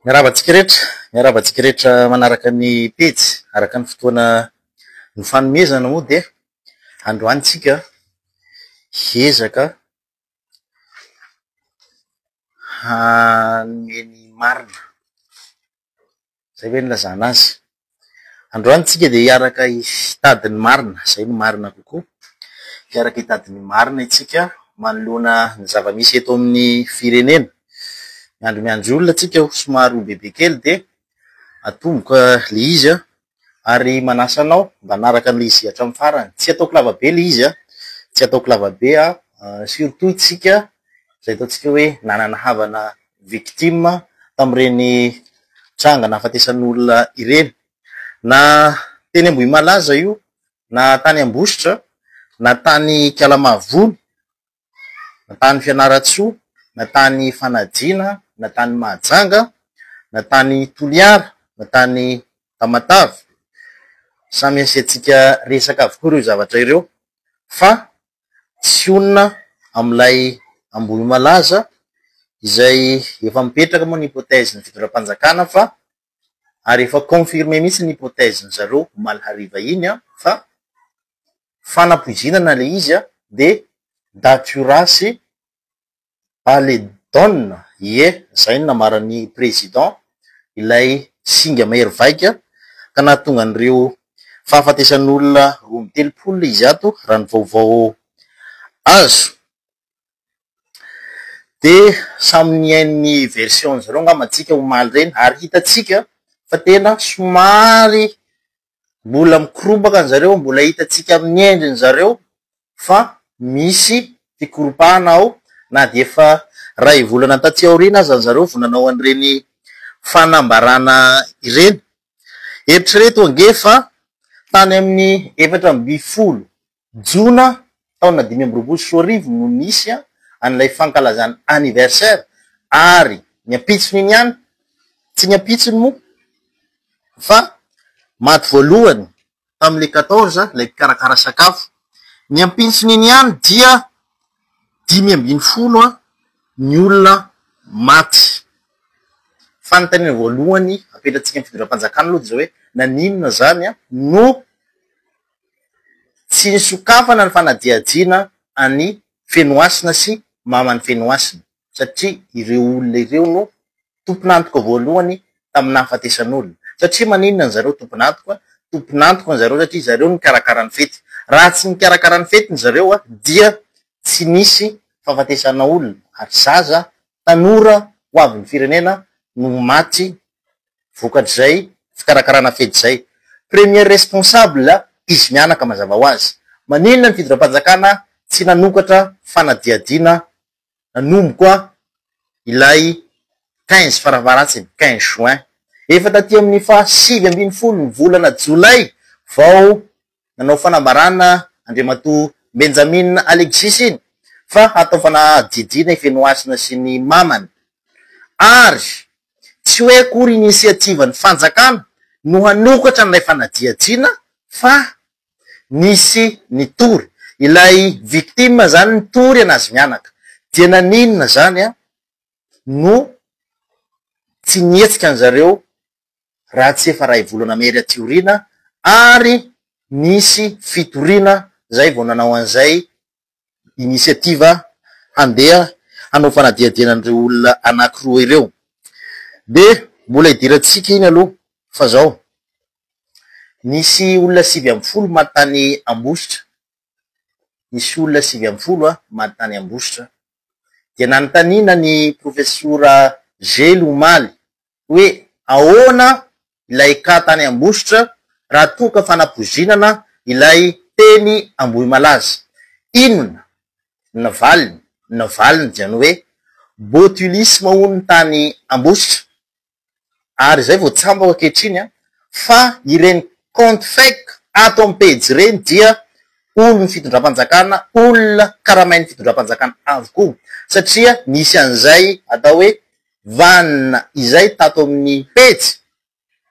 Miarahaba antsika rehetra, miarahaba antsika rehetra manaraka ny pejy araka ny fotoana nifanomezana moa dia androany tsika hiezaka hanome ny marina, zay ve ny ilazana azy? Androany tsika dia hiaraka hitady ny marina, izay no marina kokoa, hiaraka hitady ny marina itsika manoloana ny zava-misy eto amin'ny firenena. Miandry miandry olona tsika aho somary ho bebe kely dia atomboka le izy an! ary manasa anao mba hanaraka an'ilay izy hatramin'ny farany. Tsy ataoko lava be le izy an! tsy ataoko lava be an! surtout itsika izay ataontsika hoe nanana havana victime tamin'ireny tranga nahafatesan'olona ireny. Na teny Ambohimalaza aza io, na tany Ambositra, na tany Ikala-Mahavony, na tany Fianarantsoa, na tany Fanajiana, na tany Mahajanga, na tany Toliara, na tany Tamatave. Samy asiantsika resaka avokoa ireo zavatra ireo fa tsy honina amin'ilay Ambohimalaza izay efa mipetraka moa ny hypothèse ny fitondram-panjakana fa ary efa confirmé mihitsy ny hypothèse-ndry zareo omaly hariva iny fa fanapoizinana ilay izy dia daty io ratsy Allez Don, ie, zay no namaran'ny Président ilay singa mahery vaika ka nahatonga an'ireo fahafatesan'olona roa amby telopolo izy ato raha ny vaovao azo de samy nihaino ny version-nizareo angamba antsika omaly ireny ary hitantsika fa tena somary Mbola mikorobaka ny zareo, mbola hitantsika amin'ny endriny zareo fa misy fikoropahana ao na dia efa iray volana taty aoriana aza ny zareo vao nanao an'ireny fanambarana ireny. Eritrereto ange fa tany amin'ny efatra ambin'ny folo Jona taona dimy amby roapolo sy roa arivo no nisy an'ilay fankalazana anniversaire ary ny ampitsony iny ihany, tsy ny ampitsony moa fa maty voalohany tamin'ilay quatorze ilay mpikarakara sakafo, ny ampitsony iny ihany dia dimy ambin'ny folo ny olona maty. Fanontaniana voalohany apetratsika amin'ny fitondram-panjakana aloha dia izao hoe naninona izany no. Tsy nisokafana ny fanadihadiana an'i Fenohasina sy maman'i Fenohasina satria ireo olona ireo no tompon'antoka voalohany tamin'ny nahafatesan'olona. Satria maninona an'zareo tompon'antoka? Tompon'antoka an'zareo satria zareo no nikarakara ny fety. Raha tsy nikarakara ny fety n'zareo dia tsy nisy fahafatesana olona ary zaza, tanora ho avin'ny firenena no maty. vokatr'izay fikarakarana fety izay. Premier responsable izy mianaka mazava ho azy. Maninona ny fidiram-panjakana tsy nanokatra fanadihadiana nanomboka ilay quinze farafaharatsin'ny quinze juin. Efa taty amin'ny faha sivy ambin'ny folo ny volana jolay vao nanao fanambarana Andriamatoa Benjamin Alexis iny fa hatao fanadihadiana i Fenohasina sy ny mamany ary tsy hoe akory inisiativan'ny fanjakana no hanokatra an'ilay fanadihadiana fa nisy nitory ilay victime zany nitory anazy mianaka dia naninona zany no tsy nihetsika an'zareo raha tsy efa iray volana mery aty aoriana ary nisy fitoriana izay vao nanao an'izay initiative handeha hanao fanadihadiana an'ireo olona anankiroa ireo. Dia mbola hidirantsika iny aloha fa izao, nisy olona sivy ambin'ny folo maty tany Ambositra, nisy olona sivy ambin'ny folo maty tany Ambositra. Dia nanontaniana ny profesora Zely omaly hoe ahoana ilay cas tany Ambositra raha toa ka fanapoizinana ilay teny Ambohimalaza. Inona ny valiny? Ny valiny dia ny hoe botulisme hono tany Ambositra ary izay vao tsambako ankehitriny an, fa ireny compte fake ato amin'ny pejy ireny dia olon'ny fitondram-panjakana, olona karamain'ny fitondram-panjakana avokoa satria misy an'izay atao hoe vanona izay tato amin'ny pejy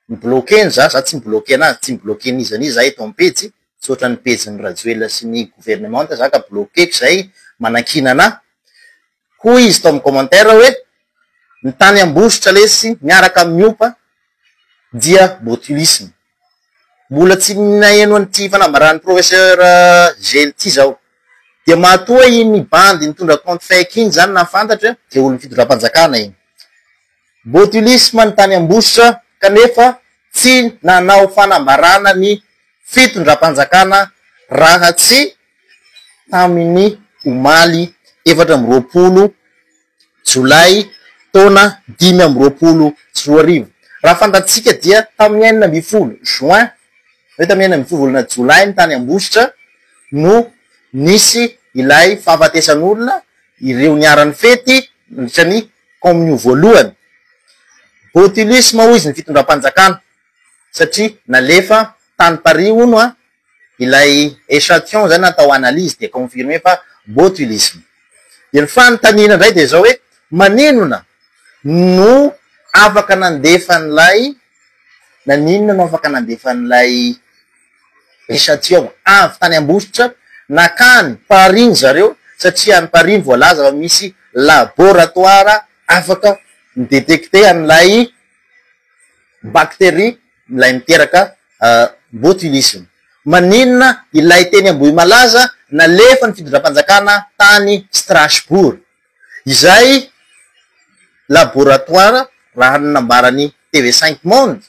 mi-bloquer-ny za, za tsy mi-bloquer anazy, tsy mi-bloquer n'iza n'iza za eto amin'ny pejy, tsy ohatran'ny pejin'i Rajoelina sy ny gouvernemanta za ka bloquer-ko izay manakiana anahy. Hoy izy tao amin'ny commentaire hoe, ny tany Ambositra lesy miaraka amin'ny Opa dia botulisme. mbola tsy naheno an'ity fanambaran'i professeur Gel ity zaho, dia matoa iny bandy nitondra compte fake iny zany na fantatra dia olon'ny fitondram-panjakana iny. Botulisme ny tany Ambositra kanefa tsy nanao fanambarana ny fitondram-panjakana raha tsy tamin'ny omaly efatra amby roapolo Jolay taona dimy amby roapolo sy roa arivo. Raha fantatsika dia tamin'ny enina ambin'ny folo juin, hoe tamin'ny enina ambin'ny folo volana jolay ny tany Ambositra no nisy ilay fahafatesan'olona ireo niharan'ny fety nandritra ny kaominio voalohany. Botulisme hoy izy ny fitondram-panjakana satria nalefa tany Paris hono an! ilay echantillon izay natao analyse dia confirmer fa botulisme. Dia ny fanontaniana indray dia izao hoe maninona no afaka nandefa an'ilay naninona no afaka nandefa an'ilay echantillon avy tany Ambositra nakany Paris ny zareo satria any Paris ny voalaza fa misy laboratoire afaka mi-detecter an'ilay bacterie milay miteraka botulisme. Maninona ilay teny Ambohimalaza nalefan'ny fitondram-panjakana tany Strasbourg? Izay laboratoire raha ny nambaran'ny TV Cinq Monde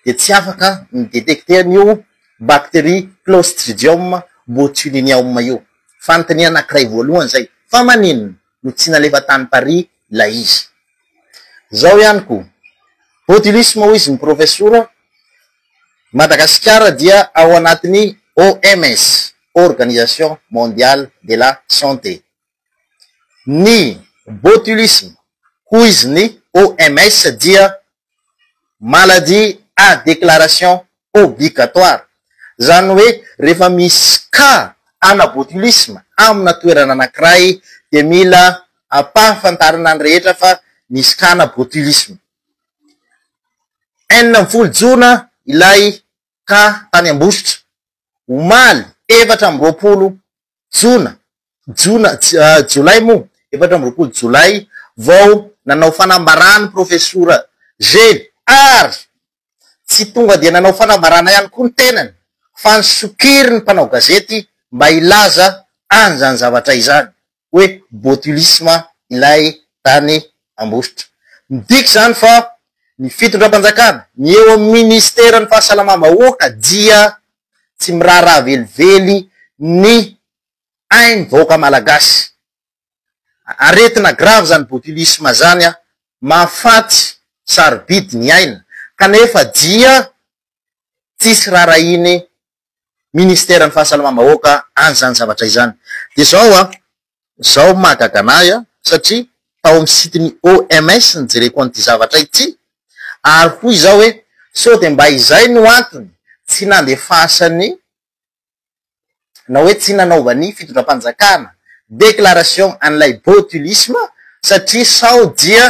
dia tsy afaka ni-detecter an'io bacterie Clostridium botulinum io. Fanontaniana anankiray voalohany izay. Fa maninona? no tsy nalefa tany Paris ilay izy. Izao ihany koa, Botulisme hoy izy ny profesora, Madagasikara dia ao anatin'ny OMS, Organisation Mondiale de la Santé. Ny Botulisme hoy izy ny OMS dia maladie à déclaration obligatoire, izany hoe rehefa misy cas ana botulisme amina toerana anankiray dia mila ampahafantarina ny rehetra fa misy cas ana botulisme, enina ambin'ny folo jona ilay ka tany Ambositra, omaly efatra amby roapolo jona, jona, jolay moa, efatra amby roapolo jolay, vao nanao fanambarana ny profesora Zely ary tsy tonga dia nanao fanambarana ihany koa ny tenany fa nisokiry ny mpanao gazety mba hilaza an'izany zavatra izany. hoe botulisme ilay tany Ambositra. Midika izany fa ny fitondram-panjakana, ny eo amin'ny minisiteran'ny fahasalamam-bahoaka dia tsy miraharaha velively ny ain'ny vahoaka malagasy. Aretina grave izany botulisme izany, mahafaty sarobidy ny aina kanefa dia tsisy raharahiany ministeran'ny fahasalamam-bahoaka an'izany zavatra izany. Dia izao an, izao no mahagaga an'ahy an, satria tao amin'ny site-n'ny OMS no jereko an'ity zavatra ity, ary hoy izao hoe sao dia mba izay no antony tsy nandefasany na hoe tsy nanaovan'ny fitondram-panjakana déclaration an'ilay botulisme, satria sao dia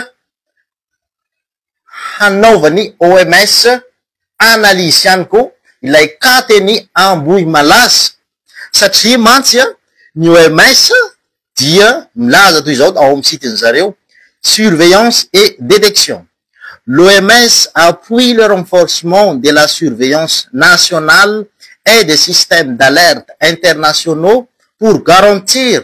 hanaovan'ny OMS analyse ihany koa ilay cas teny Ambohimalaza satria mantsy ny OMS dia milaza toy izao ao amin'ny site-ny zareo, surveillance et détection, L'OMS appuie le renforcement de la surveillance nationale et des systèmes d'alerte internationaux pour garantir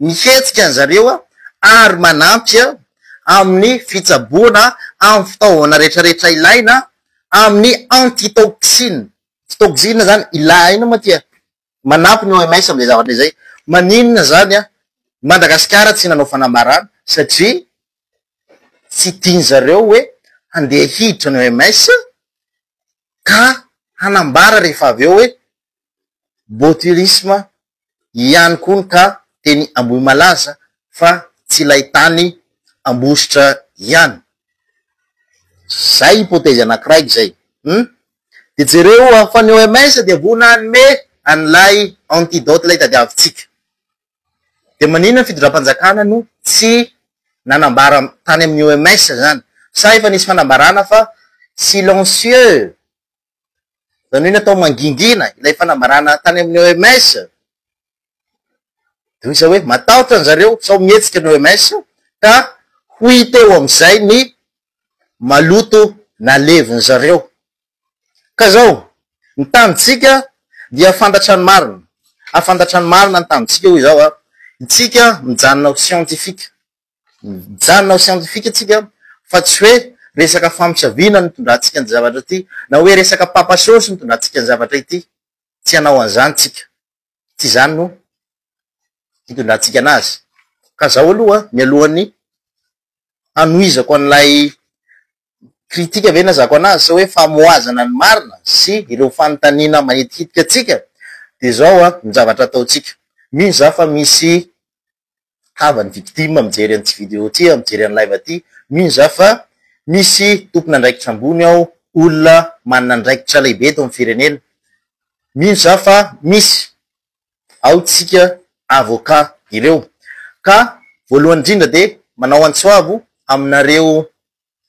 ny hetsika ny zareo ary manampy amin'ny fitsaboana amin'ny fitaovana retraretra ilaina amin'ny antitoxine, fitoxine zany ilaina mantsy e, manampy ny OMS amin'izay zavatra izay, maninona zany Madagasikara tsy nanao fanambarana satria tsy tiany zareo hoe handeha hiditra ny OMS ka hanambara rehefa avy eo hoe botryrisme ihany koa ka teny Ambohimalaza fa tsy ilay tany Ambositra ihany. Zay hypothèse anakiray izay. Hum. Dia jereo fa ny OMS dia voa nanome an'ilay antidote ilay tadiavintsika. Dia maninona ny fitondram-panjakana no tsy nanambara tany amin'ny OMS izany? Sa efa nisy fanambarana fa silencieux Izany hoe natao mangingina ilay fanambarana tany amin'ny OMS. Dia hoy izaho hoe matahotra an-dry zareo sao mihetsika ny OMS ka ho hita eo amin'izay ny maloto nalevin-dry zareo. Ka izao, ny tanintsika dia fantatra ny marina, hafantatra ny marina ny tanintsika hoy izaho an, isika mijanona ho siantifika. Mijanona ho siantifika tsika fa tsy hoe resaka famosaviana no itondrantsika ny zavatra ity na hoe resaka papa sôsy no itondrantsika ny zavatra ity. Tsy hanao an'izany tsika. Tsy izany no itondrantsika anazy. Ka zaho aloha mialohan'ny hanohizako an'ilay kritika ve ny hazako anazy sa hoe famohazana ny marina sy ireo fanontaniana mahitikitika antsika dia izao an ny zavatra ataontsika mino za fa misy havany victime mijery an'ity video ity an mijery an'i live ity mino za fa misy tompon'andraikitra ambony ao olona manana andraikitra lehibe eto amin'ny firenena mino za fa misy ao tsika avoka ireo ka voalohany indrindra dia manao antsoavo aminareo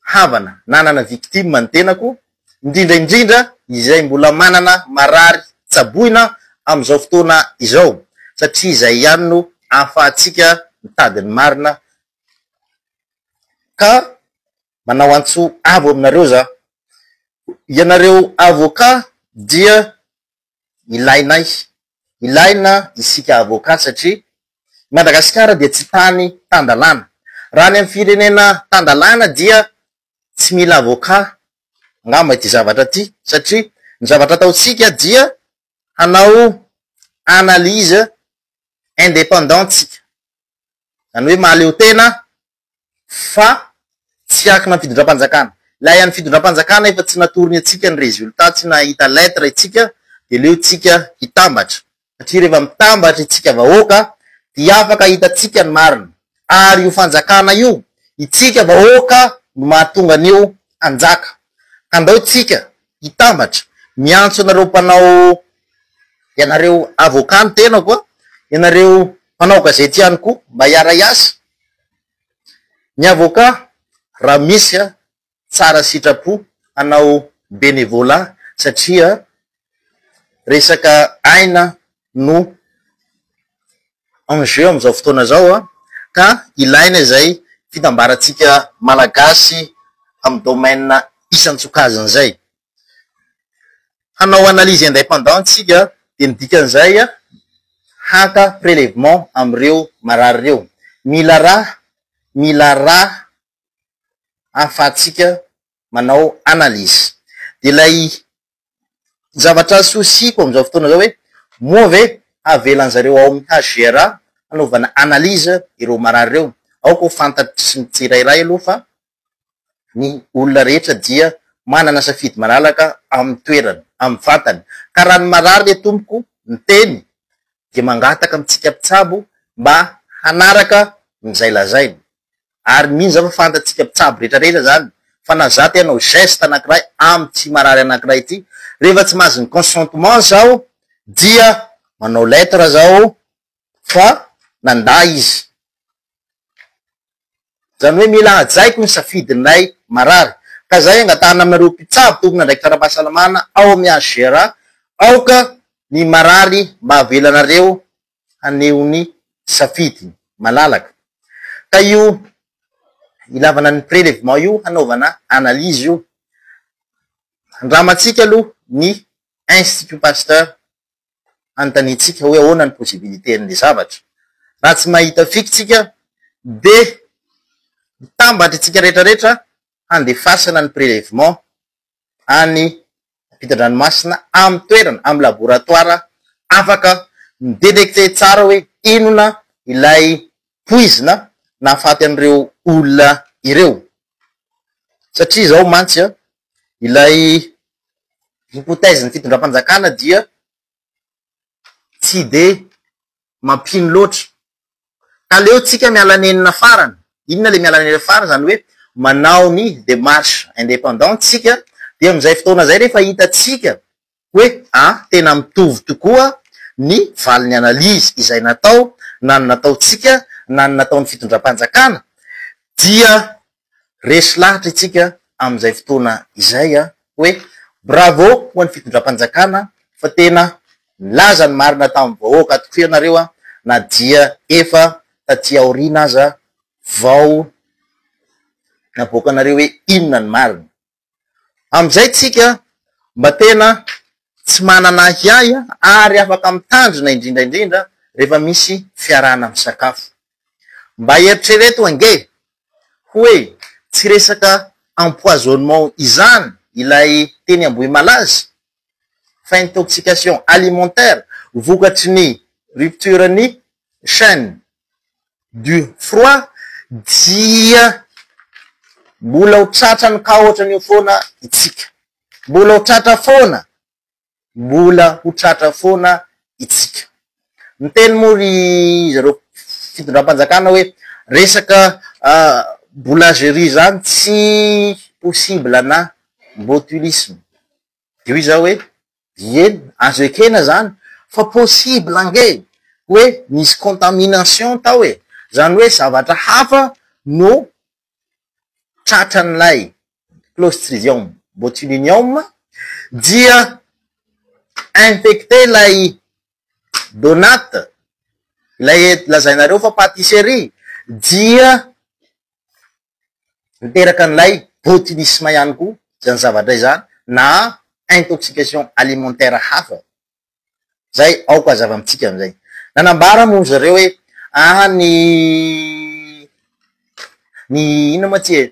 havana nanana victime ny tenako indrindra indrindra izay mbola manana marary tsaboina amin'izao fotoana izao satria izay ihany no ahafahantsika mitady ny marina ka manao antso avo aminareo za ianareo avoka dia ilainay, ilaina isika avocat satria i Madagasikara dia tsy tany tan-dalàna. Raha any amin'ny firenena tan-dalàna dia tsy mila avocat angamba ity zavatra ity satria ny zavatra ataontsika dia hanao analyse indépendante isika, izany hoe mahaleotena fa tsy akina fitondram-panjakana. Ilay an'ny fitondram-panjakana efa tsy natorony antsika ny résultat, tsy nahita lettre isika dia aleo tsika hitambatra satria rehefa mitambatra isika vahoaka dia afaka hitantsika ny marina ary io fanjakana io itsika vahoaka no mahatonga an'io hanjaka. Ka andao tsika hitambatra. Miantso anareo mpanao, ianareo avocat ny tenako a, ianareo mpanao gazety ihany koa mba hiara-hiasa, ny avocat raha misy a, tsara sitrapo hanao bénévolat satria resaka aina no en jeu amin'izao fotoana izao ka ilaina izay fitambarantsika Malagasy amin'ny domaine isan-tsokajiny izay. Hanao analyse independant isika dia ny dikan'izay haka prelèvement amin'ireo marary ireo. Mila ra, mila ra ahafahantsika manao analyse. Dia ilay Ny zavatra souci-ko amin'izao fotoana izao hoe moa ve havelan'ny zareo ao amin'ny HGRA hanaovana analyse ireo marary ireo? Aoka ho fantatry ny tsirairay aloha fa ny olona rehetra dia manana safidy malalaka amin'ny toerany, amin'ny vatany. Ka raha ny marary re tompoko miteny dia mangataka amintsika mpitsabo mba hanaraka izay lazainy. ary mino za fa fantatsika mpitsabo rehetra rehetra zany fa na za te hanao geste anakiray amty marary anakiray ity rehefa tsy mahazo ny consentement zaho dia manao lettre zaho fa nanda izy zany hoe mila hajaiko ny safidinlay marary ka zay angatahana aminareo mpitsabo tompona andraikitra ara-pahasalamana ao amy HGRA aoka ny marary mba avelanareo haneho ny safidiny malalaka. Ka io ilavana ny prelevement io hanaovana analyse io, handramantsika aloha ny Institut Pasteur hanontaniantsika hoe ahoana ny possibilité an'ilay zavatra. Raha tsy mahita fiky tsika dia mitambatra isika rehetra rehetra handefasana ny prelevement any ampitan-dranomasina amin'ny toerana, amin'ny laboratoara afaka mi-detecter tsara hoe inona ilay poizina nahafaty an'ireo olona ireo. Satria izao mantsy ilay hypothèse-n'ny fitondram-panjakana dia tsy dia mampino loatra. Ka aleo tsika miala nenina farany. Inona ilay miala nenina farany? Izany hoe manao ny démarche indépendante tsika dia amin'izay fotoana izay rehefa hitantsika hoe ah, tena mitovy tokoa ny valin'ny analyse izay natao na ny nataontsika na ny nataon'ny fitondram-panjakana dia Resy lahatra itsika amin'izay fotoana izay a! Hoe bravo ho an'ny fitondram-panjakana fa tena nilaza ny marina tamin'ny vahoaka tokoa ianareo a! Na dia efa taty aoriana aza vao navoakanareo hoe inona ny marina. Amin'izay tsika mba tena tsy manana ahiahy ary afaka mitandrina indrindra indrindra rehefa misy fiarahana misakafo. Mba eritrereto ange hoe tsy resaka empoisonnement izany ilay teny Ambohimalaza? fa intoxication alimentaire vokatry ny rupture ny chaine du froid dia mbola ho tratrany ka ohatran'io foana itsika, mbola ho tratra foana, mbola ho tratra foana itsika. Miteny moa ry zareo fitondram-panjakana hoe resaka boulangerie zany tsy possible na botulisme Io izaho hoe, ieny, azo ekena izany fa possible ange hoe nisy contamination tao e! Izany hoe zavatra hafa no tratran'ilay clostridium botulinum dia infecter ilay donut, ilay lazainareo fa patisserie, dia Miteraka an'ilay botulisme ihany koa izany zavatra izany na intoxication alimentaire hafa izay aoka hazava amintsika amin'izay. Nanambara moa izy ireo hoe aah ny ny inona moa ity e?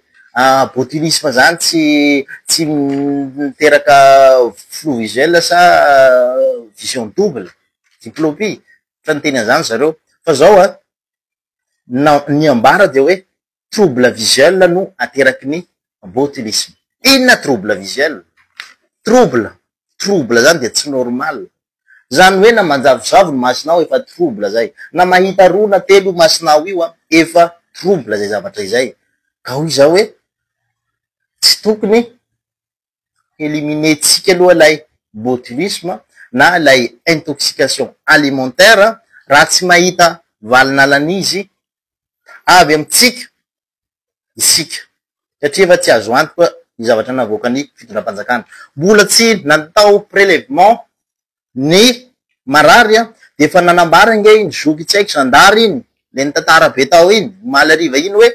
botulisme izany tsy tsy miteraka flou visuel sa vision double, diplopie, efa niteny an'izany izy ireo fa izao an, na ny ambara dia hoe trouble visuel no ateraky ny botulisme. Inona trouble visuel? Trouble, trouble zany dia tsy normal. Zany hoe na manjavozavo ny masonao efa trouble zay. Na mahita roa na telo io masonao io efa trouble zay zavatra izay. Ka hoy izaho hoe tsy tokony éliminer tsika aloha ilay botulisme na ilay intoxication alimentaire raha tsy mahita valin'alan'izy avy amintsika isika satria efa tsy azo antoka ny zavatra navoakan'ny fitondram-panjakana. Mbola tsy natao prélèvement ny marary a, dia efa nanambara ange iny zoky tsaiky zandary iny, le nitantara be tao iny omaly hariva iny hoe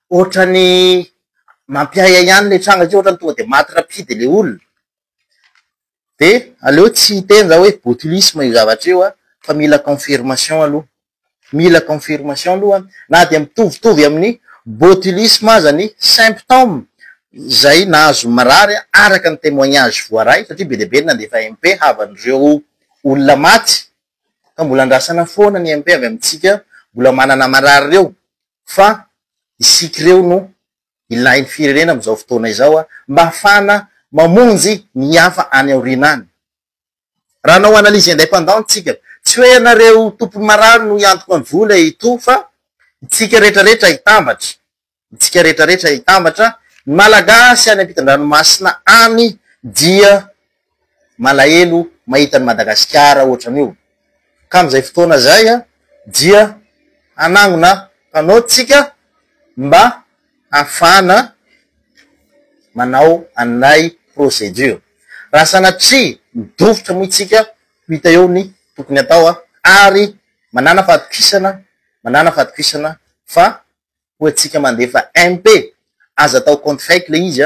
ohatrany mampiahiahy ihany le tranga satria ohatrany tonga dia maty rapide le olona, dia aleo tsy hiteny za hoe botulisme io zavatra io a, fa mila confirmation aloha. Mila confirmation aloha an. Na dia mitovitovy amin'ny botulisme aza ny symptômes izay nahazo marary araka ny témoignage voaray satria be dia be ny nandefa MP havan'ireo olona maty ka mbola andrasana foana ny MP avy amintsika mbola manana marary ireo fa isika ireo no ilain'ny firenena amin'izao fotoana izao mba hahafahana mamonjy ny hafa any aoriana any. Raha hanao analyse indépendante tsika, tsy hoe ianareo tompony marary no hiantoka ny vola etoa fa itsika rehetra rehetra hitambatra, itsika rehetra rehetra hitambatra, ny Malagasy any ampitan-dranomasina any dia malahelo mahita an'i Madagasikara ohatrany io, ka amin'izay fotoana izay dia hanangona panneau tsika mba hafana manao an'ilay procédure. Raha sanatria midofotra moa isika, ho hita eo ny tokony atao ary manàna fahatokisana, manàna fahatokisana fa koa antsika mandefa MP, aza atao compte fake ilay izy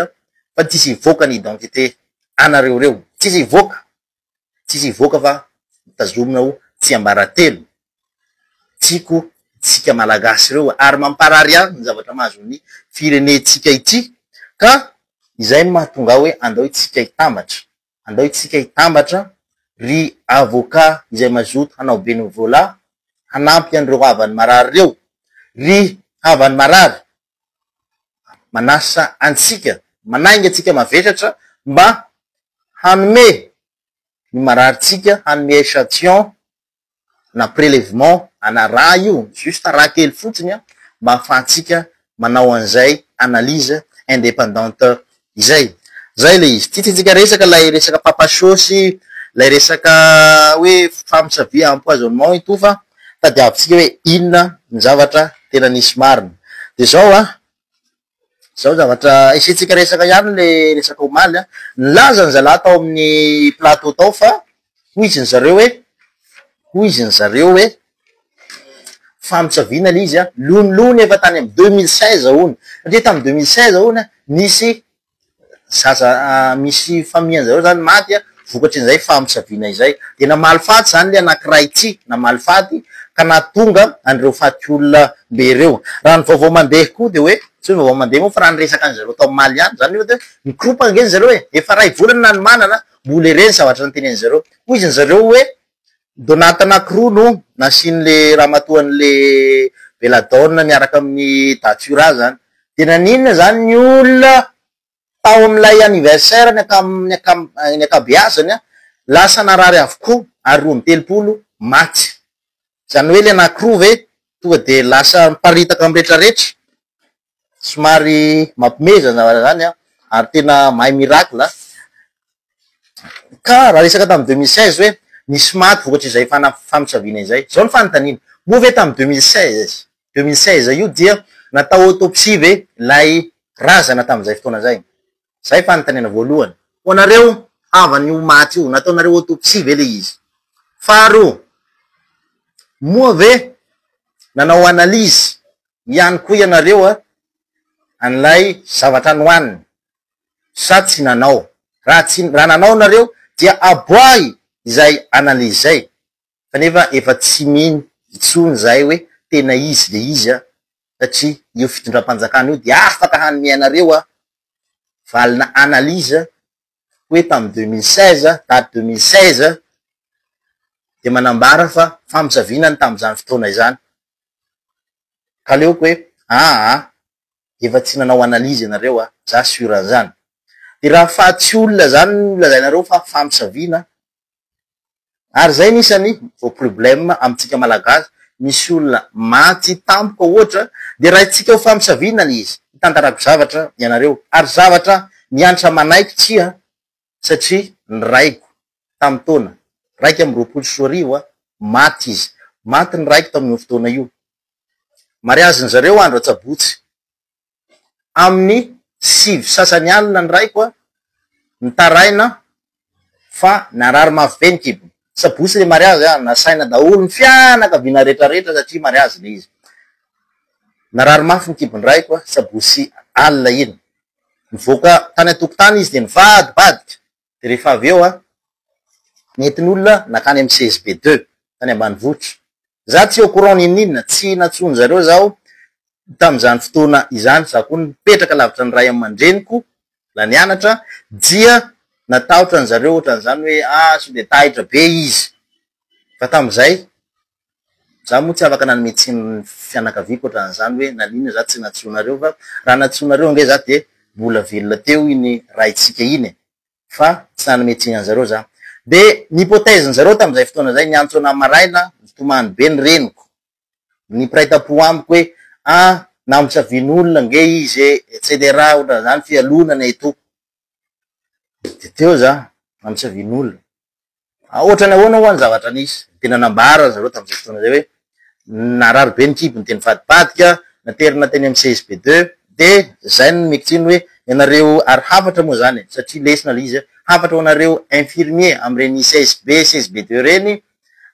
fa tsy hisy hivoaka ny identité anareo ireo, tsy hisy hivoaka. Tsisy hivoaka fa mitazomina ho tsiambaratelo. Tiako isika Malagasy ireo ary mamparary ihany ny zavatra mahazo ny firenentsika ity ka izay no mahatonga ahy hoe andao isika hitambatra, andao isika hitambatra ry Avocat izay mazoto hanao bénévolat hanampy an'ireo havany marary ireo. Ry havany marary manasa antsika, manainga antsika mavetratra mba hanome ny mararintsika, hanome echantillon na prelèvement ana ra io, juste ra kely fotsiny an, mba ahafahantsika manao an'izay analyse indépendante Izay. Zay le izy. Tsy tiantsika resaka lay resaka papa show sy lay resaka hoe femme sa vie empoisonnement i Tofa a. Tadiavintsika hoe inona ny zavatra tena nisy marina. De zao a, zao ny zavatra hisiantsika resaka ihany le resaka omaly a. Nilaza ny zalahy tao amin'ny plateau tao fa Hoy izy nizareo hoe, hoy izy nizareo hoe, famosaviana ilay izy an, lonilony efa tany amin'ny deux mille seize hono, satria tamin'ny deux mille seize hono an, nisy zaza misy famille anzareo zany maty an, vokatr'izay famosaviana izay, dia namaly faty zany ilay anakiray tsy namaly faty ka nahatonga an'ireo faty olona be ireo. Raha ny vaovao mandeha koa dia hoe, tsy hoe ny vaovao mandeha moa fa raha ny resaka an'izareo tao Mali any, zany hoe, mikoropa ange zareo e, efa iray volana nanomanana an, Mbola ireny zavatra noteneniny zareo. Hoy izy ny zareo hoe donat anakiroa no nasian'le ramatoa an'le belladonna miaraka amin'ny datura zany. De naninona zany ny olona tao amin'ilay anniversaire ny ankam ny ankam ny ankabeazany an, lasa narary avokoa ary roa amby telopolo maty. Zany hoe le anakiroa ve tonga de lasa miparitaka amin'ny retraretra. somary mampimehezana raha izany an, ary tena mahay miracle an, ka raha resaka tamin'ny deux mille seize hoe nisy maty vokatr'izay fana- famosaviana izay, izao ny fanontaniana, moa ve tamin'ny deux mille seize, deux mille seize io dia natao autopsie ve ilay razana tamin'izay fotoana izay? Zay fanontaniana voalohany. Ho anareo havan'ny ho maty io, nataonareo autopsie ve le izy? Faharoa, moa ve nanao analyse ihany koa ianareo an'ilay zavatra nohaniny sa tsy nanao? Raha tsy, raha nanao nareo dia aboahy izay analyse izay kanefa efa tsy mino intsony izahay hoe tena izy le izy an! satria io fitondram-panjakana io dia afaka hanome anareo valina analyse hoe tamin'ny deux mille seize, date deux mille seize, dia manambara fa famosaviana ny tamin'izany fotoana izany, ka aleoko hoe aa efa tsy nanao analyse ianareo an! za sur an'izany, dia raha faha tsy olona izany no lazainareo fa famosaviana Ary zay nisa ny vao problème amintsika malagasy misy olona maty tampoka ohatra de raintsika ho famisaviana le izy hitantarako zavatra ianareo ary zavatra miantra manaiky tsia satria ny raiko tamin'ny taona raika amby roapolo sy roa arivo a maty izy maty ny raiko tamin'io fotoana io mariazin'zareo andro atsabotsy amin'ny sivy sasany alina ny raiko nitaraina fa narary mafy be ny kibony. Sabotsy ilay mariazy an, nasaina daholo ny fianakaviana retraretra satria mariazy ilay izy. Narary mafy ny kibon'ny raiko sabotsy alina iny. Nivoaka tany an-tokotany izy dia nivadibadika. dia rehefa avy eo an, nentin'olona nankany amin'ny CSB deux tany ambanivohitra. Izaho tsy au courant n'inon'inona, tsy nantsoin-dry zareo izaho tamin'izany fotoana izany, izaho koa nipetraka lavitra ny ray aman-dreniko, mbola nianatra, dia natahotra an-dry zareo ohatran'izany hoe ah sao dia taitra be izy, fa tamin'izay Za moa tsy afaka nanome tsiny ny fianakaviako ohatran'izany hoe naninona za tsy nantsoinareo fa raha nantsoinareo ange za dia mbola velona teo iny raintsika iny e! fa tsy nanome tsiny an'zareo za. Dia ny hypothèse-n'zareo tamin'izay fotoana izay, niantso anah maraina nitomany be ny reniko, ny mpiray tampo amiko hoe ah! namosavian'olona ange izy e! etc ohatran'izany fialonana e! tompo. Dia teo za, namisa vin'olona. Ohatran'ny ahoana ho'a ny zavatra nisy? Dia tena nambara ry zareo tamin'izay fotoana izay hoe, narary be ny kibony dia nivadibadika, naterina teny amin'ny CSB deux. Dia izay no nomeko tsiny hoe, ianareo, ary hafatra moa izany e, satria lesona ilay izy, hafatra ho anareo infirmiers amin'ireny CSB, CSB deux ireny,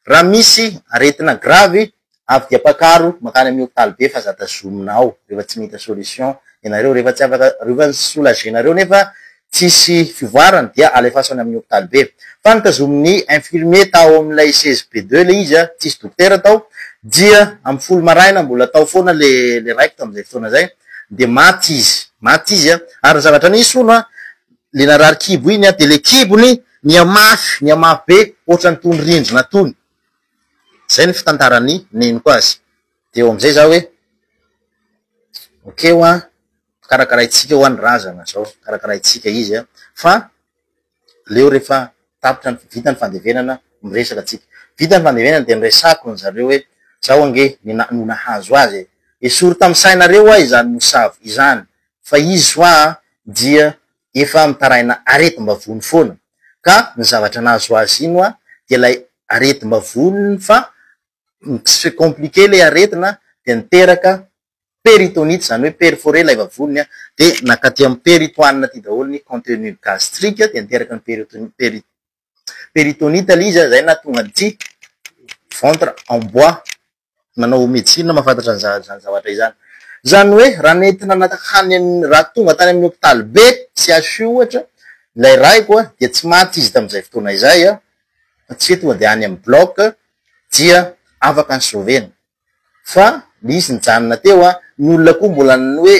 raha misy aretina gravy avy dia pakaro mankany amin'ny hopitaly be fa za tazomina ao rehefa tsy mita solution ianareo rehefa tsy afaka rehefa ny soulager nareo nefa tsisy fivoarana dia alefaso any amin'ny hopitaly be fa ny tazomin'ny infirmier tao amin'ilay seize be deux ilay izy an tsisy dokotera tao dia amin'ny folo maraina mbola tao foana le le raiko tamin'izay fotoana izay dia maty izy maty izy an ary ny zavatra nisy hono an le narary kibo iny an dia le kibony nihamafy nihamafy be ohatran'ny tony rindrina tony Izay ny fitantaran'ny neniko azy. Dia eo amin'izay izaho hoe, ok ho'a, karakaraintsika ho'a ny razana izao, karakaraintsika izy an! Fa aleo rehefa tapitra ny, vita ny fandevenana, miresaka antsika. Vita ny fandevenana dia niresahako ny zareo hoe, izao ange ny na, no nahazo azy e! Esory tamin'ny sainareo ho'a izany mosavy izany, fa izy ho'a dia efa mitaraina aretim-bavony foana ka ny zavatra nahazo azy iny hoa dia ilay aretim-bavoniny fa mi compliquer ilay aretina dia niteraka péritonite izany hoe perforer ilay vavoniny dia nakaty amin'ny peritoine aty daholo ny contenu gastrique dia niteraka ny péritonite péri péritonite ilay izy izay nahatonga an'ity ventre en bois manao medecine mahafantatra an'izany zavatra izany. Izany hoe raha nentina nankany amin'ny, raha tonga tany amin'ny hopitaly be, CHU ohatra, ilay raiko dia tsy maty izy tamin'izay fotoana izay fa tsy hoe tonga dia any amin'ny bloc dia afaka ny sauver-na fa nisy nijanona teo. Ny olona koa mbola ny hoe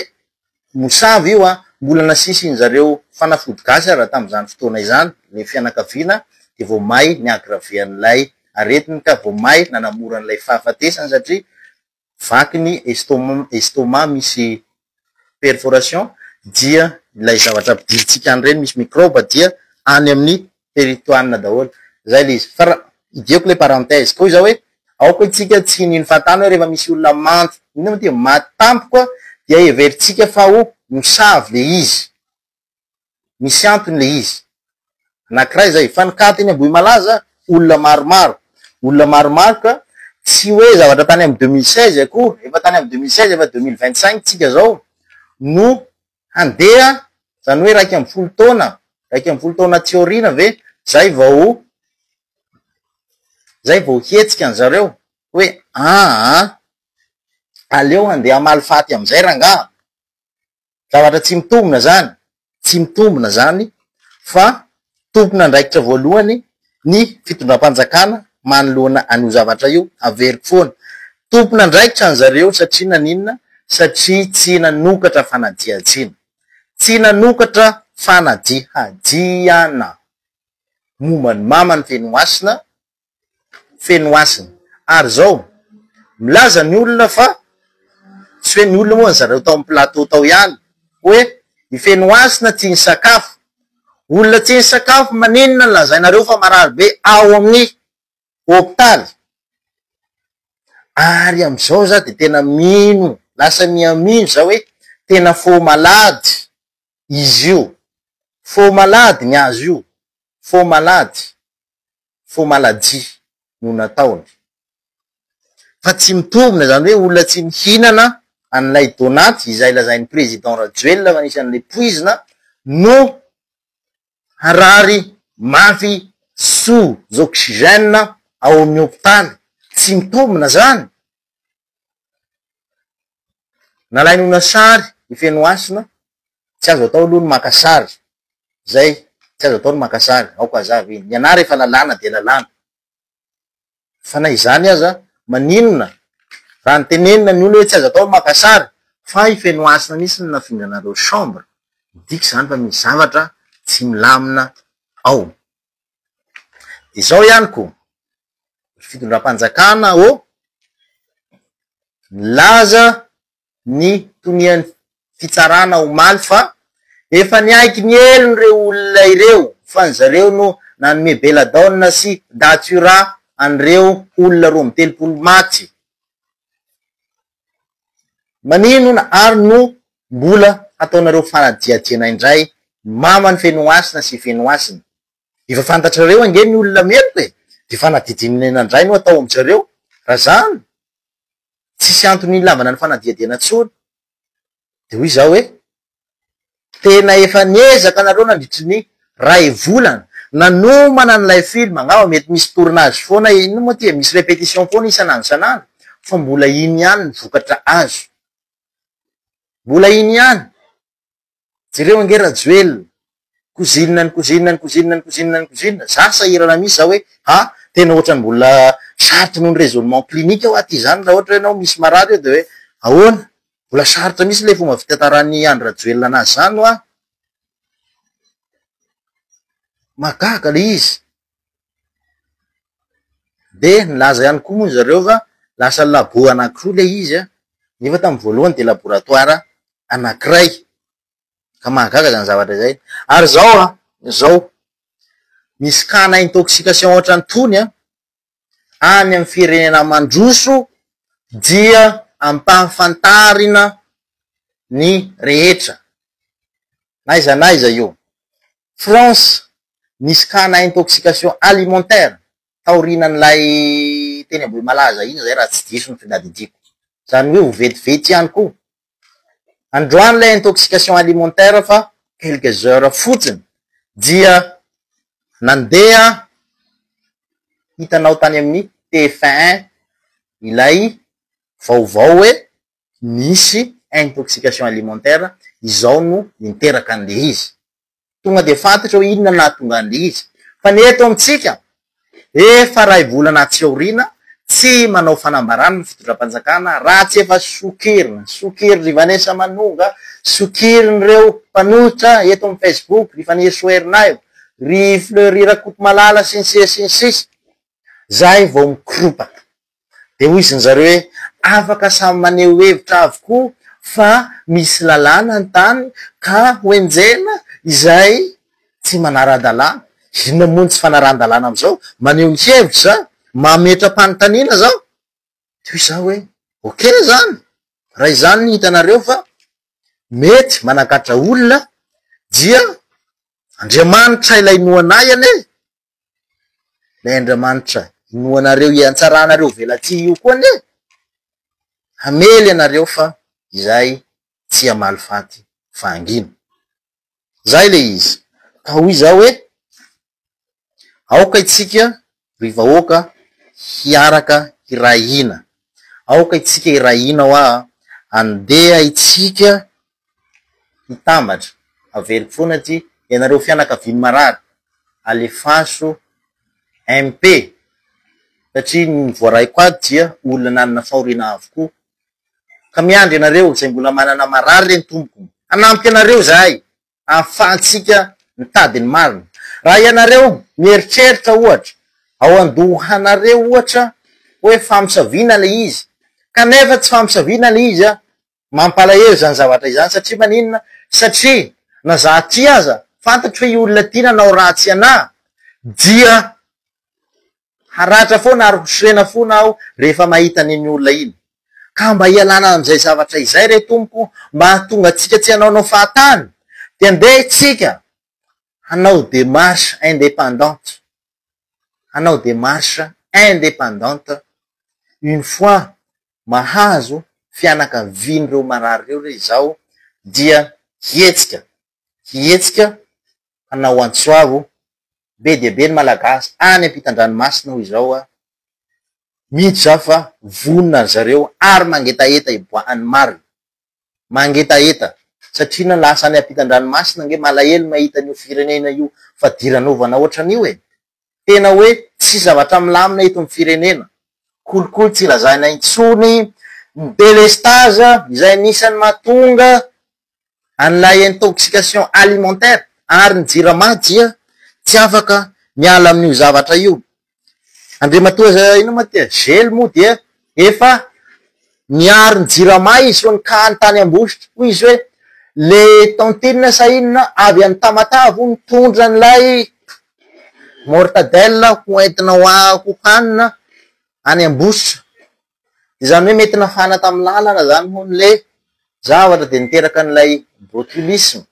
Mosavy io an! Mbola nasisin zareo fanafody gasy ary tamzany fotoana izany le fianakaviana de vao may ni aggraver an'ilay aretiny ka vao may nanamora an'ilay fahafatesany satria vaky ny estomac misy perforation dia ilay zavatra ampidirintsika any ireny misy microbe dia any amin'ny Teritoanina daholo. Zay le izy. Fa idiako le parenthèse. Koa izao hoe, aoka isika tsy hiniany fahatany hoe rehefa misy olona manty, inona moa ty, maty tampoka dia heverintsika fa ho mosavy le izy. Misy antony le izy. Anakiray zay. Fa ny cas teny Ambohimalaza, olona maromaro. Olona maromaro ka tsy hoe zavatra tany amin'ny deux mille seize akory, efa tany amin'ny deux mille seize, efa deux mille vingt cinq tsika zao, no handeha zany hoe iraika ambin'ny folo taona iraika ambin'ny folo taona tsy aoriana ve zay vao zay vao hetsika any zareo hoe aa aleo handeha amaly faty amizay rangaha zavatra tsy mitombina zany tsy mitombina zany fa Tompon'andraikitra voalohany ny fitondram-panjakana manoloana an'io zavatra io, averiko foana. Tompon'andraikitra ny zareo satria naninona? Satria tsy nanokatra fanadihadiana. Tsy nanokatra fanadihadiana momba ny maman'i Fenomasina feno hasina. Ary izao, milaza ny olona fa, tsy hoe ny olona moa ry zareo tao amin'ny plateau tao ihany, hoe i Fenohasina tsy nisakafo. Olona tsy nisakafo maninona no lazainareo fa marary be ao amin'ny hopitaly? Ary amin'izao za dia tena mino, lasa miha mino za hoe tena faux malade izy io. Faux malade ny azy io, faux malade. faux maladie no nataony. Fa tsy mitombina izany hoe olona tsy mihinana an'ilay donat izay lazain'ny président Rajoelina fa nisy an'ilay poizina no harary mafy sous oxygène ao amin'ny hopitaly. Tsy mitombina izany. Nalainy ho na sary i Fenohasina, tsy azo atao aloha ny maka sary. Zay, tsy azo atao ny maka sary, aoka aza avy iny. Ny anah rehefa lalàna dia lalàna. Fa na izany aza, maninona raha nitenenina ny olona hoe tsy azo atao ny maka sary, fa i Fenohasina mihitsy no nafindranareo chambre, midika izany fa misy zavatra tsy milamina ao. Izao ihany koa ny fitondram-panjakana ô nilaza ny tonian'ny fitsarana omaly fa efa niaiky ny helony ireo olona ireo fa ny zareo no nanome belladonna sy datura an'ireo olona roa amby telopolo maty. Maninona ary no mbola hataonareo fanadihadiana indray maman'i Fenohasina sy Fenohasina? Efa fantatrareo ange ny olona meloka e! Dia fanadidinina indray no atao amin-jareo? Raha izany, tsisy antony hilavana ny fanadihadiana intsony. Dia hoy izaho hoe. Tena efa niezaka nareo nandritry ny ray volana nanomana an'ilay film, angamba mety misy tournage foana inn moa ty e, misy repetition foana isan'andro isan'andro fa mbola iny ihany ny vokatra azo, mbola iny ihany, jereo ange Rajoelina Cousine ny cousine ny cousine ny cousine ny cousine. Za sahirana mihitsy za hoe ha tena ohatrany mbola sarotra noho ny raisonnement clinique hoa ty zany raha ohatra hoe enao misy marary eo de hoe ahoana? Mbola sarotra mihitsy le fomba fitantaran'i Andry Rajoelina anazy zany hoa. Mahagaga le izy. De nilaza ihany koa moa zareo fa lasa labo anakiroa le izy a, nefa tamin'ny voalohany de laboratoire anakiray. Ka mahagaga zany zavatra izay. Ary zao a, zao, misy cas-na intoxication ohatrantony a, any amin'ny firenena mandroso dia ampahafantarina ny rehetra. N'aiza n'aiza io. France, nisy cas-na intoxication alimentaire taorianan'ilay teny Ambohimalaza iny izay raha tsy diso ny fitadidiako. Zany hoe ho vetivety ihany koa Androany ilay intoxication alimentaire fa quelques heures fotsiny dia nandeha hitanao tany amin'ny tf un ilay vaovao hoe nisy intoxication alimentaire izao no niteraka an'ilay izy. Tonga dia fantatra hoe inona no nahatonga an'ilay izy. Fa ny eto amintsika, efa iray volana atsy aoriana, tsy manao fanambarana ny fitondram-panjakana raha tsy efa sokirin'ny, sokirin'i Vanessa Manonga, sokirin'ireo mpanohitra eto amin'ny Facebook, ry Fanirisoa Ernaivo, ry Fleury Rakotomalala, sy ny sisa sy ny sisa, izay vao mikoropaka. Dia hoy izy zareo hoe, Afaka samy maneho hevitra avokoa fa misy lalàna ny tany ka hoenjehina izay tsy manara-dalàna. Inona moa ny tsy fanarahan-dalàna amin'izao? Maneho ny hevitra? Mametra-panontaniana izao? Dia hoy izaho hoe, Ok izany, raha izany no hitanareo fa mety manakatra olona dia Andriamanitra ilay noanahy anie Ilay Andriamanitra inoanareo hiantsaranareo velatsihy io koa anie hamely anareo fa izahay tsy hamaly faty fa hangina. Izay ilay izy. Ka hoy izaho hoe, aoka itsika ry vahoaka hiaraka hiray hina, aoka itsika hiray hina hoa, andeha itsika hitambatra, averiko foana ty, ianareo fianakavian'ny marary alefaso MP satria ny voaray quad dia olona nanana fahoriana avokoa ka miandry ianareo izay mbola manana marary re ny tompoko hanampy anareo izahay ahafahantsika mitady ny marina, raha ianareo mieritreritra ohatra ao an-dohanareo ohatra hoe famosaviana ilay izy kanefa tsy famosaviana ilay izy an! Mampalahelo izany zavatra izany satria maninona? Satria na za aty aza fantatro hoe io olona ity nanao ratsy ana dia haratra foana ary ho sorena fona aho rehefa mahita an'iny olona iny. Ka mba hialana amin'izay zavatra izay re Tompo mba hahatonga antsika tsy hanaonao fahatany dia ndeha itsika hanao démarche indépendante hanao démarche indépendante une fois mahazo fianakavian'ireo marary ireo re izao dia hihetsika, hihetsika hanao antso avo be dia be ny Malagasy any ampitan-dranomasina hoy izao aho mihitsy izaho fa vonona ry zareo ary mangetaheta hiboahan'ny marina. mangetaheta satria na lasa any ampitan-dranomasina ange malahelo mahita an'io firenena io fadiranovana ohatran'io e! Tena hoe tsy zavatra milamina eto ny firenena. Kolikoly tsy lazaina intsony ny délestage izay anisan'ny mahatonga an'ilay intoxication alimentaire ary ny Jirama dia tsy afaka miala amin'io zavatra io Andriamatoa za inona moa tia zely moa dia efa niaro ny jirama izy fony kany tany ambositra hoy izy hoe le tantine sa inona avy any tamatave hono nitondra an'ilay mortadelle ho entina ho a- ho hanina any ambositra de zany hoe mety nafana tamin'ny lalana zany hono le zavatra de niteraka an'ilay botulisme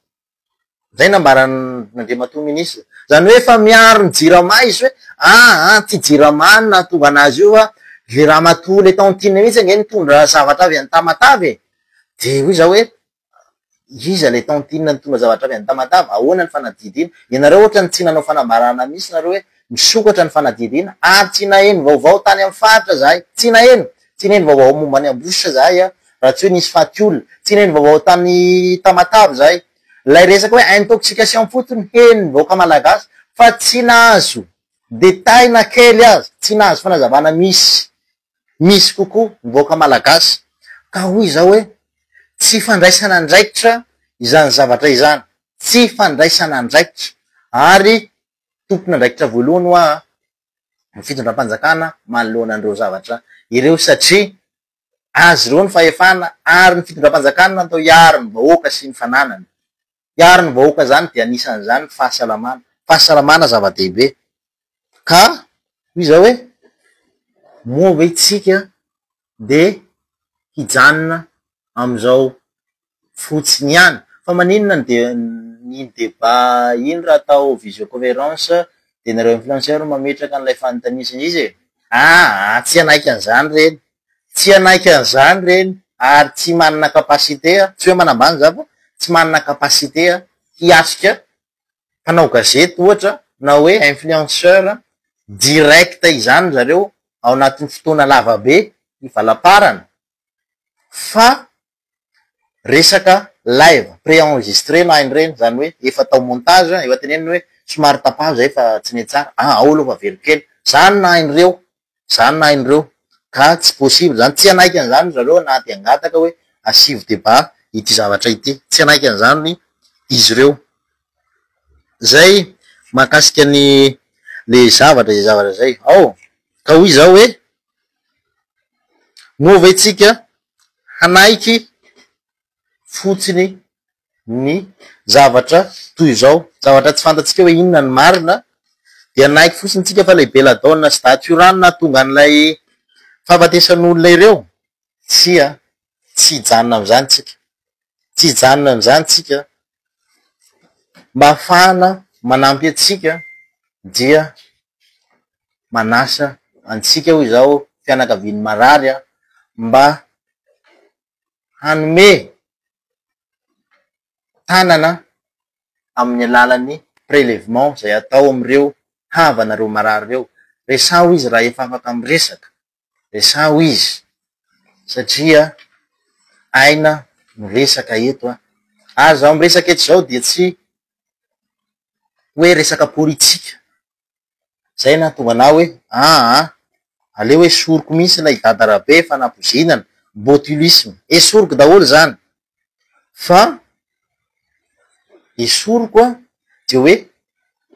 Izay nambaran'Andriamatoa Minisitra. Izany hoe efa miaro ny Jirama izy hoe aa ity Jirama no nahatonga an'azy io fa ilay Ramatoa ilay tao Antinina mihitsy ange nitondra zavatra avy any Tamatave e! Dia hoy izaho hoe iza ilay tao Antinina nitondra zavatra avy any Tamatave? Ahoana ny fanadihadiana? Ianareo ohatran'ny tsy nanao fanambarana mihitsy nareo hoe misokatra ny fanadihadiana ary tsy naheno vaovao tany amin'ny faritra izahay. Tsy naheno! Tsy nino vaovao momba an'i Ambositra izahay an! Raha tsy hoe nisy faty olona. Tsy nino vaovao tany Tamatave izahay. Ilay resaka hoe intoxication fotsiny heno ny vahoaka malagasy fa tsy nahazo détails na kely aza, tsy nahazo fanazavana misy misy kokoa ny vahoaka malagasy. Ka hoy izaho hoe tsy fandraisana andraikitra izany zavatra izany. Tsy fandraisana andraikitra. Ary tompon'andraikitra voalohany hoa an! ny fitondram-panjakana manoloana an'ireo zavatra ireo satria azy ireo ny fahefana ary ny fitondram-panjakana natao hiaro ny vahoaka sy ny fananany. Hiaro ny vahoaka izany dia anisan'izany ny fahasalamana. Fahasalamana zava-dehibe ka hoy izaho hoe moa ve isika dia hijanona amin'izao fotsiny ihany. Fa maninona ny de- ny débat iny raha atao visioconférence dia nareo influenceurs no mametraka an'ilay fanontania sy ny sisa e? Aa tsy hanaiky an'izany ireny, tsy hanaiky an'izany ireny ary tsy manana capacité, tsy hoe manambany za fa tsy manana capacité hiatrika mpanao gazety ohatra na hoe influenceur direct izany ry zareo ao anatin'ny fotoana lava be ny valaparany fa resaka live pré-enregistré na ireny izany hoe efa atao montage efa teneniny hoe somary tapaho izay fa tsy nety tsara, ah ao aloha fa velokely, izany na ireo Zany nahay nireo. Ka tsy possible zany. Tsy hanaiky an'izany ry zareo na dia hangataka hoe asivo débat ity zavatra ity. Tsy hanaiky an'izany izy ireo. Zay mahakasika ny le zavatra izay zavatra izay. Ao! Ka hoy izaho hoe, moa ve tsika hanaiky fotsiny ny zavatra toy izao, zavatra tsy fantatsika hoe inona ny marina, dia naiky fotsiny tsika fa ilay belladonna sy datura no nahatonga an'ilay fahafatesan'olona ireo? Tsia, tsy hijanona amin'izany tsika, tsy hijanona amin'izany tsika, mba hahafahana manampy antsika dia manasa antsika hoy izaho fianakavian'ny marary mba hanome tanana amin'ny alalan'ny prélèvement izay atao amin'ireo havanareo marary ireo. Resaho izy raha efa afaka miresaka, resaho izy satria aina no resaka eto an! Ary izaho miresaka eto izao dia tsy hoe resaka politika. Zay nahatonga anah hoe ah ah, aleo esoriko mihintsy ilay dada Rabe fa nampoizinana, botulisme, esoriko daholo zany fa esoriko an, dia hoe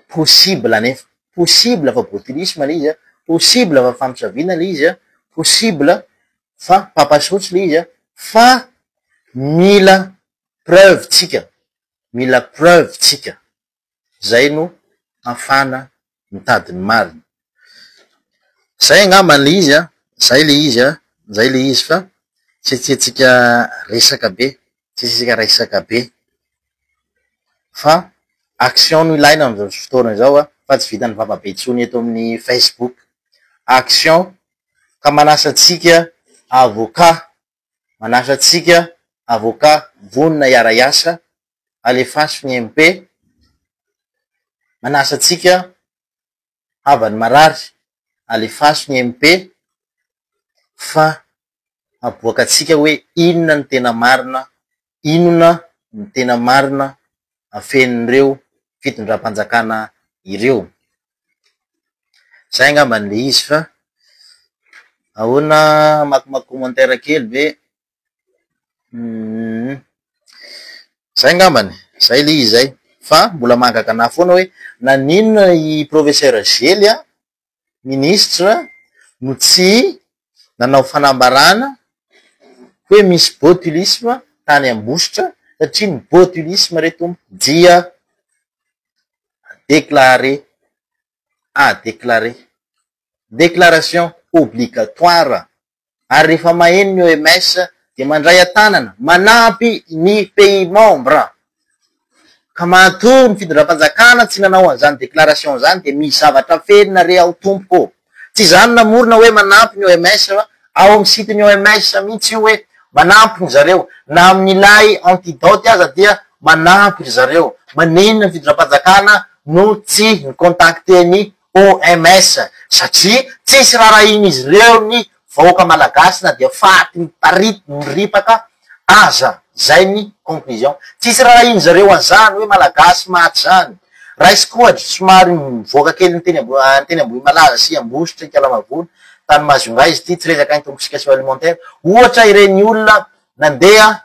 possible anefa, possible fa botulisme ilay izy an, possible fa famosaviana ilay izy an, possible fa papa sotsy ilay izy an, fa mila preuve tsika, mila preuve tsika. Izay no hafana mitady ny marina. Izay angamba ilay izy an! Izay ilay izy an! Izay ilay izy fa tsy tiantsika resaka be, tsy tiantsika resaka be fa action no ilaina amin'izao fotoana izao an! Fa tsy vitan'ny vava be intsony eto amin'ny Facebook. Action! Ka manasa antsika avocat, manasa antsika avocat vonona hiara-hiasa alefaso ny MP manasa antsika havany marary alefaso ny MP fa aboaka antsika hoe inona ny tena marina inona ny tena marina afenin'ireo fitondram-panjakana ireo zay angambany le izy fa ahoana makomaky commentaire kely ve Uhm. Zay ngambany, zay le izy zay. Fa mbola mahagaga anah foana hoe naninona i professeur zely an, ministre, no tsy nanao fanambarana hoe misy botulisme tany Ambositra satria ny botulisme re tompo dia à déclarer, à déclarer. Déclaration obligatoire. ary rehefa maheno ny OMS dia mandray an-tanana manampy ny pays membres ka matoa ny fitondram-panjakana tsy nanao an'izany déclaration izany dia misy zavatra fenina re ao tompoko ô! Tsy izany namorona hoe manampy ny OMS fa ao amin'ny site ny OMS mihitsy io hoe manampy ny zareo na amin'ilay antidote aza dia manampy ry zareo, manenina ny fitondram-panjakana no tsy ni-contacter ny OMS, satria tsisy rarahin'izy ireo ny vahoaka malagasy na dia faty miparity miripaka aza, izay ny conclusion. Tsisy rarahin'izy ireo an'izany hoe malagasy maty izany. Raisiko ohatra, somary mivoaka kely ny teny ny teny Ambohimalaza sy Ambositra, Ikalamavola, tany Majunga izy ity, tsy resaka intoxication alimentaire, ohatra ireny olona nandeha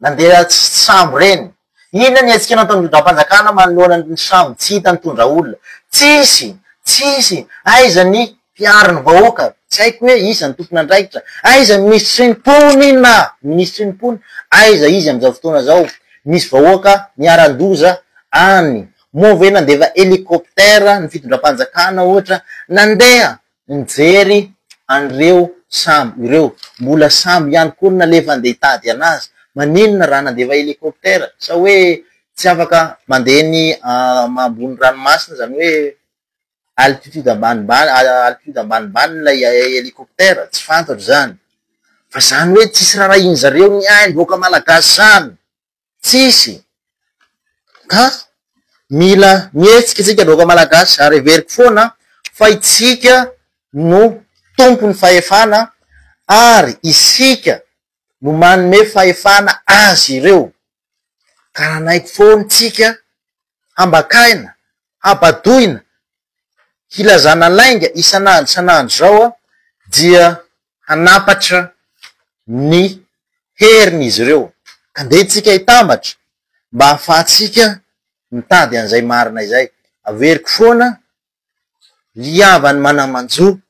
Nandeha tsy tsy sambo reny. Inona ny hetsika nataon'ny Rindrampanjakana manoloana ny sambo tsy hita nitondra olona? Tsisy! Tsisy! Aiza ny mpiaro ny vahoaka? Tsy haiko hoe iza ny tompon'andraikitra? Aiza ny minisitry ny mponina inona? Minisitry ny mponina? Aiza izy amin'izao fotoana izao? Misy vahoaka niharan-doza any. Moa ve nandefa hélicoptère ny fitondram-panjakana ohatra? Nandeha! Mijery an'ireo sambo ireo. Mbola sambo ihany koa no nalefa handeha hitady anazy. Maninona raha nandefa hélicoptère? Sa hoe tsy afaka mandeha ny ambony ranomasina izany hoe altitude ambanimbany altitude ambanimbany ilay hélicoptère? Tsy fantatro izany. Fa izany hoe tsisy raharahian'izareo ny aim-bahoaka malagasy izany? Tsisy. Ka mila mihetsika isika vahoaka malagasy ary heveriko foana fa itsika no tompon'ny fahefana ary isika no manome fahefana azy ireo. Ka nanaiky foana itsika hambakaina, habadoina, hilazana lainga isan'andro isan'andro izao dia hanampatra ny heriny izy ireo. Andeha tsika hitambatra mba hahafahantsika mitady an'izay marina izay. Averiko foana, Liava ny manamanjo,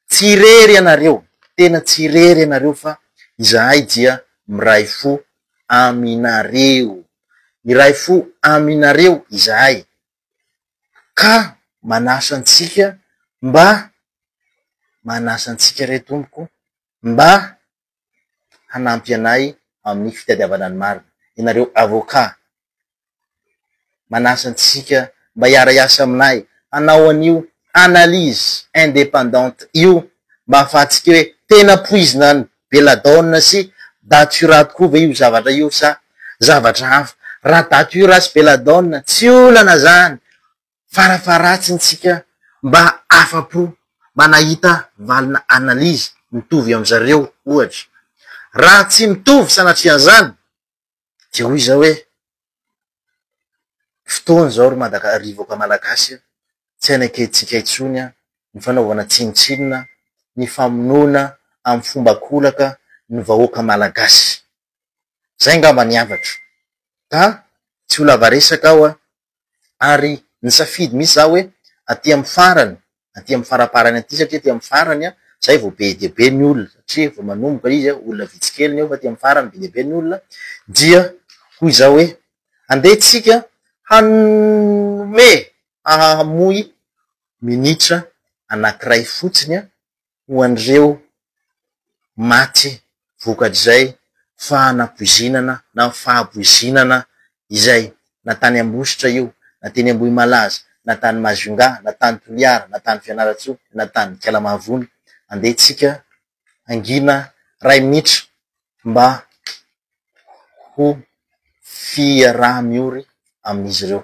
tsy irery ianareo, tena tsy irery ianareo fa izahay dia miray fo aminareo. Miray fo aminareo izahay. ka manasa antsika mba manasa antsika re Tompoko mba hanampy anay amin'ny fitadiavana ny marina, ianareo avocat manasa antsika mba hiara hiasa aminay hanao an'io analyse indépendante io mba hahafahantsika hoe tena poizina ny Belladonna sy Datura tokoa ve io zavatra io sa zavatra hafa? Raha Datura sy Belladonna, tsy olana izany, farafaharatsin'ny tsika mba afa-po mba nahita valina analyse mitovy amin'zareo ohatra. Raha tsy mitovy sanatrian'izany, Dia hoy izaho hoe, fotoana izao ry Madagasikara, ry vahoaka malagasy an, tsy hanekentsika intsony an, ny fanaovana tsinontsinona, ny famonoana amin'ny fomba an-kolaka ny vahoaka malagasy. Izay angamba ny hafatro. Ka tsy ho lava resaka aho an, ary nisafidy mihitsy za hoe aty amin'ny farany, aty amin'ny faraparany aty satria aty amin'ny farany zay vao be dia be ny olona satria vao manomboka izy olona vitsy kely ny ao fa aty amin'ny farany be dia be ny olona dia hoy za hoe andeha tsika hanome hamoy minitra anankiray fotsiny ho an'ireo maty vokatr'izay fanapoizinana na fahapoizinana izay, na tany Ambositra io, na teny Ambohimalaza, na tany Majunga, na tany Toliara, na tany Fianarantsoa, na tany Ikala-Mahavony. Andeha tsika hangina ray minitra mba ho fiaraha-miory amin'izy ireo.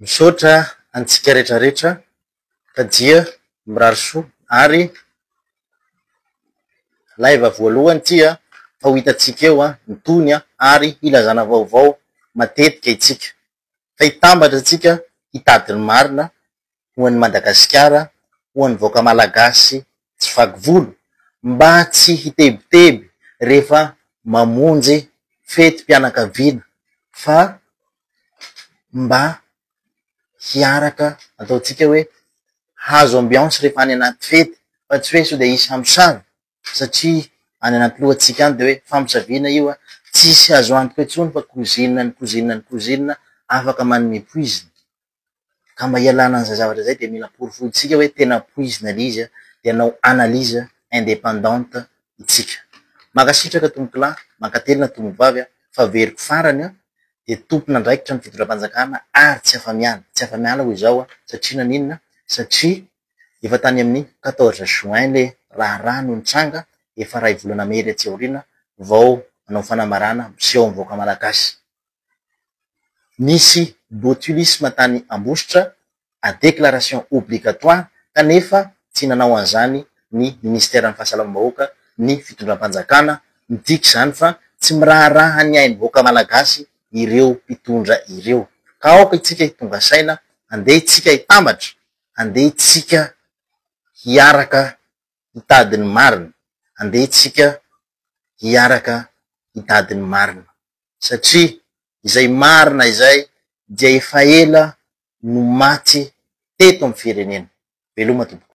Misaotra antsika rehetra rehetra fa dia mirary soa ary live voalohany ity a fa ho hitantsika eo ny tohiny ary hilazana vaovao matetika isika. fa hitambatra antsika hitady ny marina ho an'i Madagasikara, ho an'ny vahoaka Malagasy tsy vaky volo, mba tsy hitebiteby rehefa mamonjy fetim-pianakaviana fa mba hiaraka ataontsika hoe hahazo ambiance rehefa any anaty fety fa tsy hoe sao dia hisy hamosavy. satria any anaty lohantsika any dia hoe famosavina io a, tsisy azo antoka intsony fa cousine ny cousine ny cousine afaka manome poizina, ka mba hialana an'izay zavatra izay dia mila porofointsika hoe tena poizina le izy a, dia hanao analyse indépendante itsika. Mankasitraka tompokolahy, mankatelina tompokvavy a, faveriko farany a, dia tompon'andraikitra ny fitondram-panjakana ary tsy afa-miala, tsy afa-miala hoy izaho a, satria naninona? satria Efa tany amin'ny quatorze juin le raharaha no nitranga, efa ray volana mery atsy aoriana vao nanao fanambarana miseho amin'ny vahoaka malagasy. Nisy botulisme tany Ambositra, à déclaration obligatoire, kanefa tsy nanao an'izany ny ministeran'ny fahasalamam-bahoaka, ny fitondram-panjakana, midika izany fa tsy miraharaha ny ain'ny vahoaka malagasy ireo mpitondra ireo. Ka aoka itsika hitonga saina, andeha itsika hitambatra andeha tsika hiaraka hitady ny marina, andeha tsika hiaraka hitady ny marina satria izay marina izay dia efa ela no maty teto amin'ny firenena, veloma tompoko.